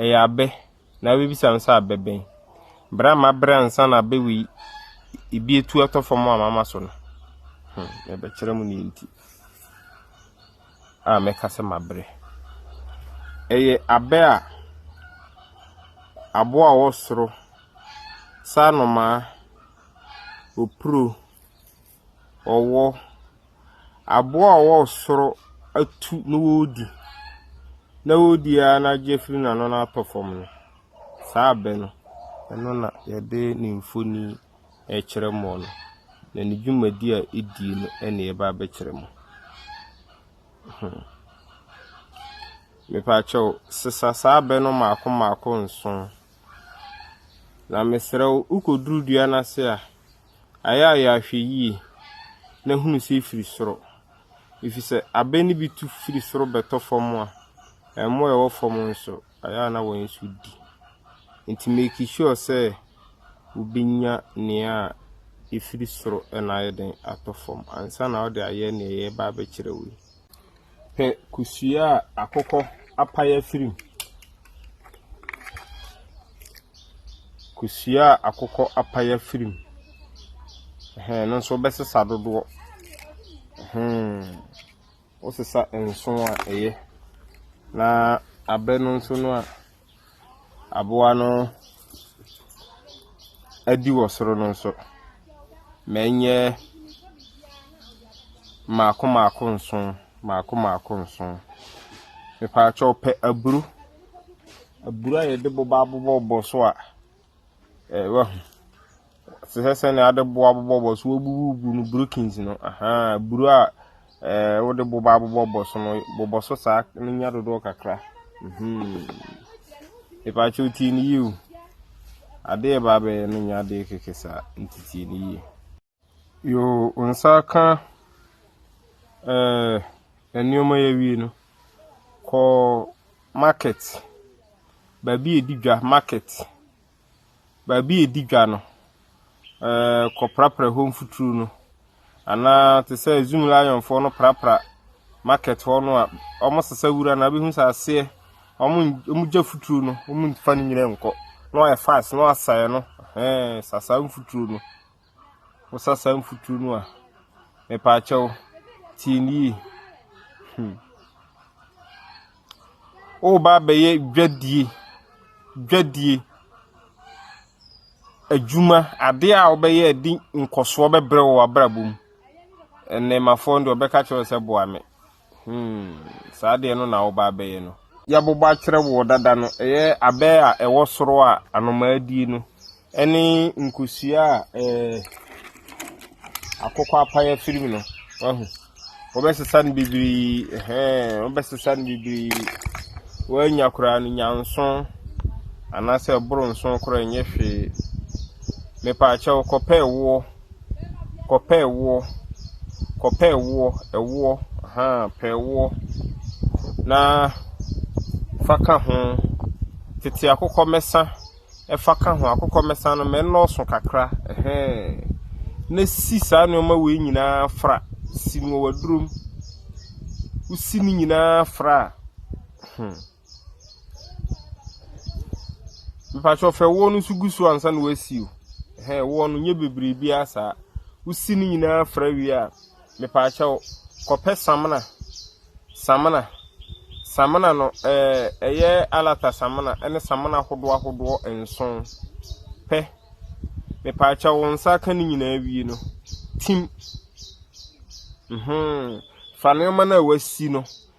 Ɛyɛ abɛ na wobebisa me sɛ abɛ bɛn? Bere a mabrɛ ansa na abɛ wei ebi atu atɔ fam a mama so no. Hmm, mebɛkyerɛ mo nea nti a mɛka sɛ mabrɛ. Ɛyɛ abɛ a aboa a ɔwɔ soro, saa nnomaa, opuro, ɔwɔ. Aboa a ɔwɔ soro atu na ɔredi, na ɔredi ara na agye afiri n'ano na atɔ fam no, saa abɛ no, ɛno na wɔde ne mfonin rekyerɛ mo no, na ne dwumadi a ɛdie no na ɛreba abɛkyerɛ mo. Ɛhɔ. Mepa kyɛw, sesa saa abɛ no mmaako mmaako nson, na mesrɛ wo, wokɔduru dua no ase a, Ayɛ a yɛahwɛ yie na hunu sɛ ɛfiri soro. Ɛfiri sɛ abɛ no bi tu firi soro bɛtɔ fam a, mmoa a ɛwɔ fam nso, ayɛ a na wɔn nso di. Nti make sure sɛ wobɛnya nea a ɛfiri soro na ayɛ den atɔ fam ansa na wode ayɛ nea yɛreba abɛkyerɛ wo yi. Pɛ kosua a akokɔ apae afiri mu. Kosua a akokɔ apae afiri mu. Ɛhɛn, ɛno nso wobɛsesa dodoɔ. Wosesa nson a, ɛyɛ. Na abɛ no nso no a. aboa no adi wɔ soro no nso, ma ɛnyɛ mmaako mmaako nson, mmaako mmaako nson. Mepakyɛw, pɛ aburo, aburo a yɛde boba abobɔbobɔ so a. Ɛɛ, wahu. Te sɛ sɛnea ade bo abobɔbɔ so wobubu no brokins no. Ahaa, buru a ɛɛ wode bo ba abobɔbɔ so no, bobɔ so saa na nya dodoɔ kakra. Mhm. Mepatwa o tie no yie o. Adeɛ ɛba abɛyɛ no nyɛ adeɛ kɛkɛ saa nti tie no yie. Yoo wo nsa aka ɛɛ nneɛma yɛ wie no kɔ market baabi a yɛdi dwa market baabi a yɛdi dwa no ɛɛ kɔprapra hɔ mfuturo no anaa te sɛ zoom lionfoɔ no prapra market hɔ no a wɔsesa wura no abɛhu sɛ aseɛ wɔgya futuro no wɔmfa no nyina nkɔ na wɔayɛ fast na wɔasae no ɛɛ sasaa mfuturo no. wo sa saa mfuturo no a, mepaakyɛw, tie no yie. Hmm. Woreba abɛyɛ dwadie, dwadie, adwuma, adeɛ a wobɛyɛ de nkɔsoɔ bɛbrɛ wɔ w'abrabɔ mu. Ɛnɛmafoɔ no deɛ ɔbɛka kyerɛ sɛ boa me. Hmm, saa adeɛ no na woba abɛyɛ no? Yɛabobɔ akyerɛ woɔ dada no, ɛyɛ abɛ a ɛwɔ soro a anomaa die no, ɛne nkosua a ɛɛ akokɔ apaeɛ firim no, wahu. Wɔbɛsesa no bebree, ɛhɛn, wɔbɛsesa no bebree. Wɔanya koraa no nya nson, anaasɛ ɛboro nson koraa nyɛ hwee. Mepaakyɛw kɔpɛ ɛwoɔ. Kɔpɛ ɛwoɔ, kɔpɛ ɛwoɔ, ɛwoɔ, ahaa, pɛ ɛwoɔ na fa ka ho. Tete akokɔmɛsa fa ka ho. Akokɔmɛsa no, ma ɛnnɔɔso kakra, ɛhɛɛn. Na si saa nneɛma wei nyinaa fra. Si no wɔ w'aduro mu. Wosi ne nyinaa fra a, hmm. Mepakyɛ ɔfɛ woɔ no nso gu so ansa na wasi o. Ɛhɛn woɔ no nyɛ bebree biara saa. Wosi ne nyinaa fra wie a, mepakyɛ wo, kɔpɛ samina. Samina, samina no ɛɛ ɛyɛ alata samina ne samina ahodoɔ ahodoɔ nson. Pɛ, mepakyɛ wo, wo nsa aka ne nyinaa wie no, tim. Mhmm, fa nneɛma no a wasi no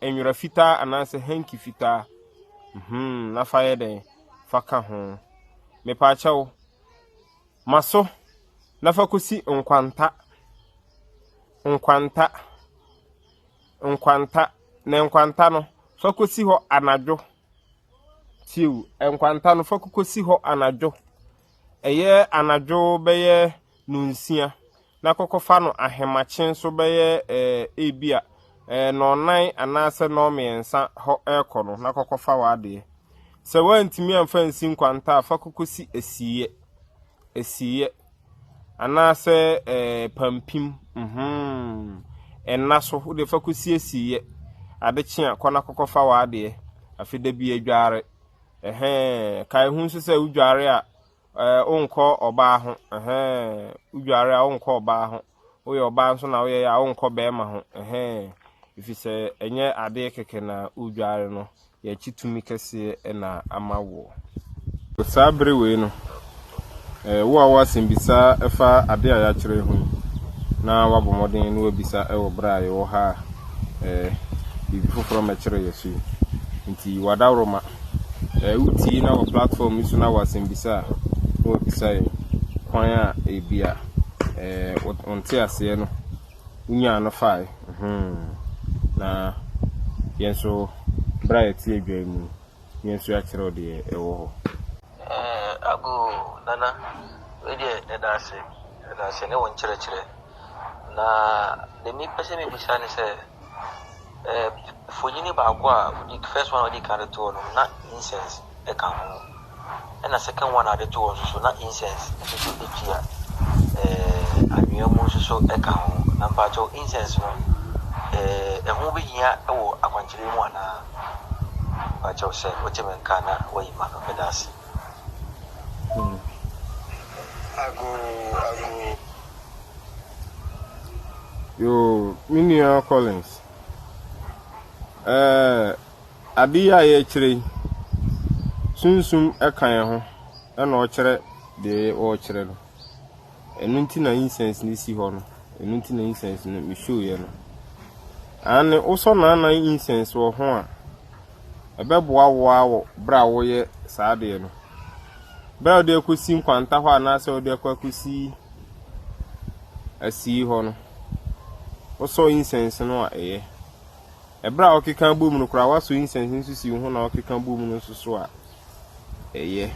Nwera fitaa anaasɛ hanky fitaa mm-hmm na fa yɛ dɛn fa ka ho mepaakyɛw ma so na fa kosi nkwanta nkwanta nkwanta na nkwanta no fa kosi hɔ anadwo tiw nkwanta no fa kosi hɔ anadwo ɛyɛ anadwo bɛyɛ no nsia na kɔkɔfa no ahemakye nso bɛyɛ ebia nnɔnnan anaasɛ nnɔnmiɛnsa hɔ rekɔ no na kɔkɔfa w'adeɛ. Sɛ woantumi amfa nsi nkwanta a, fa kɔkɔsi asieɛ, asieɛ anaasɛ pampim, ɛnna so wode fa kɔsi asieɛ. Ade kye a, kɔ na kɔkɔfa w'adeɛ. Afei da bi adware. Ɛhɛn, kae ho nso sɛ wodware a, Ɛɛ wonkɔ ɔbaa ho, ɛhɛɛ, wodware a wonkɔ ɔbaa ho, woyɛ ɔbaa nso na woyɛeɛ a wonkɔ barima ho, ɛhɛɛ, ɛfiri sɛ ɛnyɛ adeɛ kɛkɛ na wodware no, yɛakyi tumi kɛseɛ na ama woɔ. Saa bere wei no, ɛɛ wo a wowɔ asɛmmisa ɛfa adeɛ a yɛakyerɛ yi ho yi, na woabɔ mmɔden na woabisa ɛwɔ bere a yɛwɔ ha a, ɛɛ, biribi foforɔ mmɛkyere yɛn so yi nti, yi w'adaworoma. Sɛ wotie na wɔ platform yi so na wɔ asɛmbisa a na wabisa yɛn kwan a ebi a ɛɛ wɔnte aseɛ no wonyaa no fae na yɛn nso berɛ a yɛte adwan mu yɛn nso yɛakyerɛw deɛ ɛwɔ hɔ. Ago Nana wei deɛ ɛda ase ɛda ase ne wo nkyerɛkyerɛ na deɛ mepɛ sɛ mebisa ne sɛ. Ɛɛ mfonini baako a odi first one a odi kan de too no, na incense ka ho. Ɛna second one a ɔde too nso so, na incense nso so tua. Ɛɛ anwea mu nso so ka ho. Na mpakyɛw incense no, ɛɛ ɛho behia wɔ akwankyerɛ mu anaa? Mpakyɛw sɛ wote me nka na wayi ma no, meda ase. Agoo, agoo. Yoo, me nua Collins, ɛɛ, ade yi a yɛrekyerɛ yi, sunsum ka yɛn ho na ɔkyerɛ deɛ ɔrekyerɛ no. Ɛno nti na incense no si hɔ no. Ɛno nti na incense no mehwiiɛ no. Aane, wosɔ naanan incense wɔ ho a, ɛbɛboa wo ara wɔ berɛ a woreyɛ saa adeɛ no. Berɛ a wode akɔsi nkwanta hɔ anaasɛ wode akɔ akɔsi asii hɔ no, wosɔ incense no a ɛyɛ. Ɛberɛ a wokeka bom no koraa woasɔ incense nso si wo ho na wokeka bom no nso so a ɛyɛ.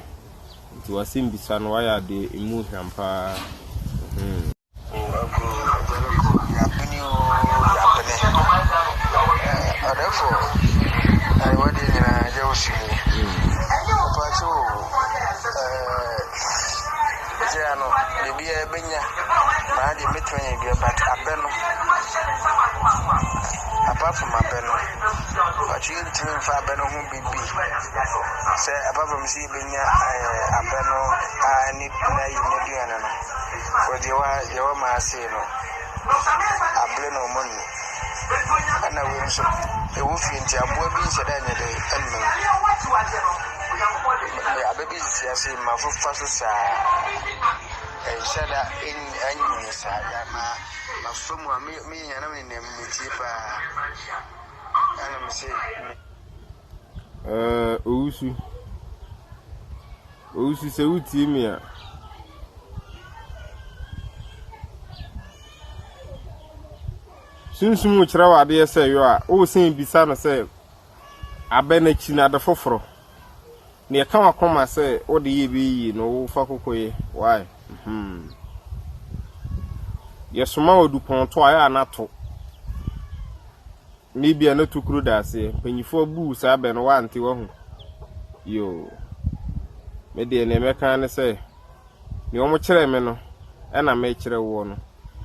Nti w'asɛmmisa no wayɛ adeɛ ɛmu hwam paa. Hmm. O Aburow agya no kɔ yɛabene oo yɛabene eh Ɔdɛfoɔ ayi wadeɛ nyinaa agya wo so yie Mpakyɛ o eh Gya no biribiara ɛbɛnya maa deɛ mɛtumi ayɛ bia but abɛ no apart from abɛ no mpakyɛ yɛntumi mfa abɛ no ho biribi sɛ apart from sɛ yɛbɛnya eh abɛ no a ɛne n'ayi n'aduane no. Wɔdeɛ deɛ wɔmaa sei no abere na wɔn nni ɛna wei nso ɛwɔ fie nti aboa bi nhyɛ dɛ nyɛ dɛ ɛnum abɛ bi sisi ase ma fofa so saa ɛnhyɛ da ɛnyini saa ya ma ma fam a me yɛn nam ne nam ne tie paa ɛna me se Ɛɛɛɛ Owusu, Owusu sɛ wotie me a. Sunsum rekyerɛ wo adeɛ sɛ yɔ a, woresan bisa no sɛ abɛ no akyi no ade foforɔ. Nea ɛka w'akoma sɛ wode yɛ bɛyɛ yie no wofa koko yɛ. Why? Hmm. Yɛsoma wɔ dupɔn to a yɛ a na to. Nnɛ bia no tokuro da aseɛ. Mpanyinfoɔ buu saa bɛ no wante wahu yoo me deɛ neɛ mɛka ara ne sɛ neɛ wɔn kyerɛɛ me no ɛna mekyerɛ woɔ no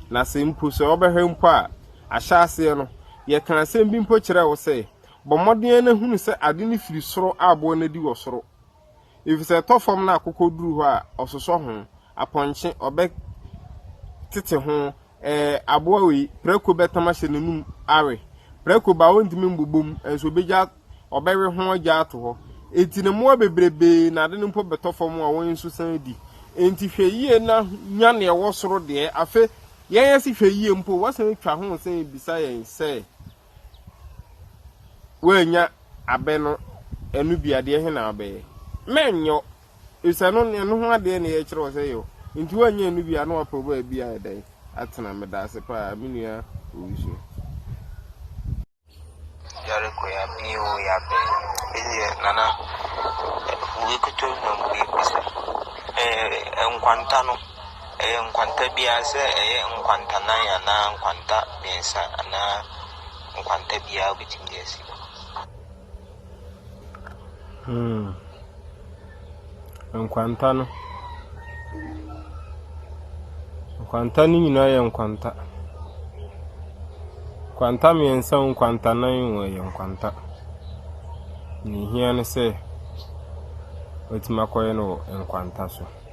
na sɛ mpo sɛ wobɛhwɛ mpo a ahyɛ aseɛ no yɛka asɛm bi mpo kyerɛɛ wo sɛ bɔ mmɔden na hunu sɛ ade no firi soro a boɔ no adi wɔ soro efisɛ ɛtɔ fam na akokɔ duru hɔ a, ɔsosɔ ho, apɔnkye, ɔbɛtete ho, ɛɛ, aboa wei, prako bɛtam ahyɛ n'anum awe. Prako ba a, ɔrentumi mbobɔ mu, nso ɔbɛgya, ɔbɛwe ho agya ato hɔ. Enti ne mmoa bebrebe na ade no mpo bɛtɔ fam a wɔn nso san di. Enti hwɛ yie na nya nea ɛwɔ soro deɛ. Afei, yɛn asi hwɛ yie mpo, wɔasan atwa ho resan abisa yɛn sɛ. woannya abɛ no ɛno bi adeɛ he na wobɛyɛ? Mɛnyɔ, efisɛ no ɛno ho adeɛ na yɛkyerɛ wo sɛ yɛ o. Nti woannya ɛno bi a na wapɛ baabi ayɛ dɛn atena? Medaase paa me nua Owusu. Yareko yabɛ oo yabɛ ɛdeɛ nana wei koto na mmiɛnmisa ɛɛ nkwanta no. Ɛyɛ nkwanta biara, sɛ ɛyɛ nkwanta nan anaa nkwanta mmiɛnsa anaa nkwanta biara wobɛtumi de asi hɔ. Hmm. Nkwanta no. Nkwanta no nyinaa yɛ nkwanta. Nkwanta mmiɛnsa nkwanta nan wɔ yɛ nkwanta. Ne hia ne sɛ, watumi akɔyɛ no wɔ nkwanta so.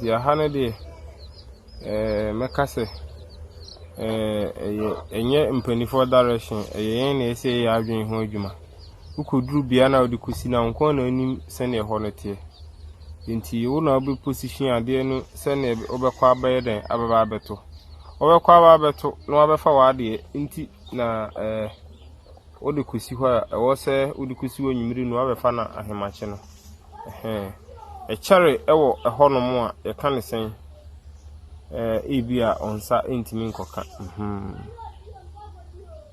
Deɛ aha no deɛ, mɛka sɛ ɛnyɛ mpaninfoɔ direction, ɛyɛ yɛn na yɛsɛ yɛyɛ yɛn adwene ho adwuma. Wokɔduru bea no a wode kɔsi no a, wo nko ara na wonim sɛdeɛ ɛhɔ no teɛ. Nti wo na wobɛ position adeɛ no sɛdeɛ wobɛkɔ abɛyɛ dɛn abɛba abɛto. Wobɛkɔ aba abɛto na wabɛfa w'adeɛ nti na . Wode kosi hɔ a ɛwɔ sɛ wode kosi anwummere no abɛfa no ahemakye no. Ɛhɛn. Ɛkyɛre wɔ ɛhɔnom a yɛka ne sɛn? Ɛɛ ebi a ɔnsa ntumi nkɔka. Mhm.